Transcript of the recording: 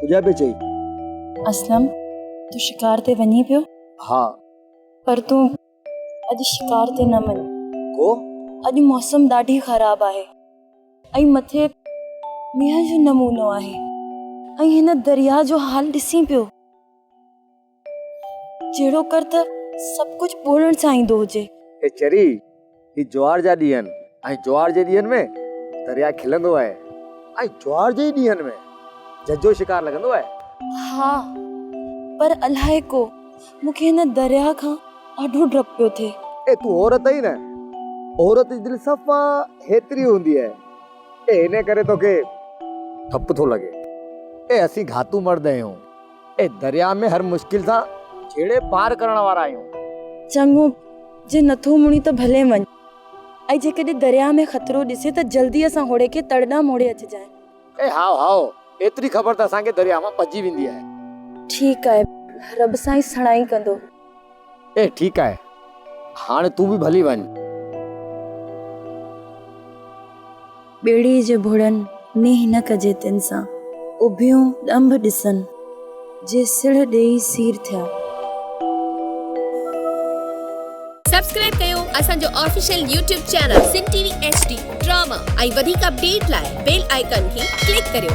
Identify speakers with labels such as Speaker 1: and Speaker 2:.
Speaker 1: پوڄا پئي چئي. اسلم،
Speaker 2: تون شڪار تي وڃين پيو؟ ها.
Speaker 1: پر تون
Speaker 2: اڄ شڪار تي نه وڃ. ڪو؟
Speaker 1: اڄ موسم
Speaker 2: ڏاڍي خراب آهي ۽ مٿي مينهن جو نمونو آهي ۽ هن درياء جو حال ڏسين پيو. جهڙو ڪر ته سڀ ڪجهه ٻولڻ سان ايندو هجي. اي چري،
Speaker 1: هي جوار جا ڏينهن آهن ۽ جوار جي ڏينهن ۾ درياء کلندو آهي ۽ جوار جي ئي ڏينهن ۾ جج جو شڪار لڳندو آهي. ها،
Speaker 2: پر الائي ڪو، مون کي هن درياء کان ڏاڍو ڊپ پيو ٿئي. اي تون عورت آهين نه،
Speaker 1: عورت جي دل صفا هيتري هوندي آهي، اي انهيء ڪري توکي ڊپ ٿو لڳي. اي اسين گهاتو مرد آهيون، اي درياء ۾ هر مشڪل سان جهيڙي پار ڪرڻ وارا آهيون. چڱو،
Speaker 2: جي نٿو مڙين ته ڀلي وڃ. ۽ جيڪڏهن درياء ۾ خطرو ڏسين ته جلديء سان هوڙي کي تڙ ڏانهن موڙي اچجانء. اي هائو هائو،
Speaker 1: ايتري خبر ته اسان کي درياء مان پڄي ويندي آهي. ٺيڪ آهي،
Speaker 2: رب سائين سڻائي ڪندو. اي
Speaker 1: ٺيڪ آهي هاڻ تون به ڀلي وڃ.
Speaker 2: ٻيڙي جي ڀڙن نيهه نه ڪجي تن سان اڀيون ڏنڀ ڏسن جي سڙهه ڏيئي سير ٿيا.
Speaker 3: سبسڪرائب ڪيو اسان جو official YouTube channel Sindh T V H D drama ۽ وڌيڪ اپڊيٽ لاء بيل آئيڪان کي ڪلڪ ڪريو.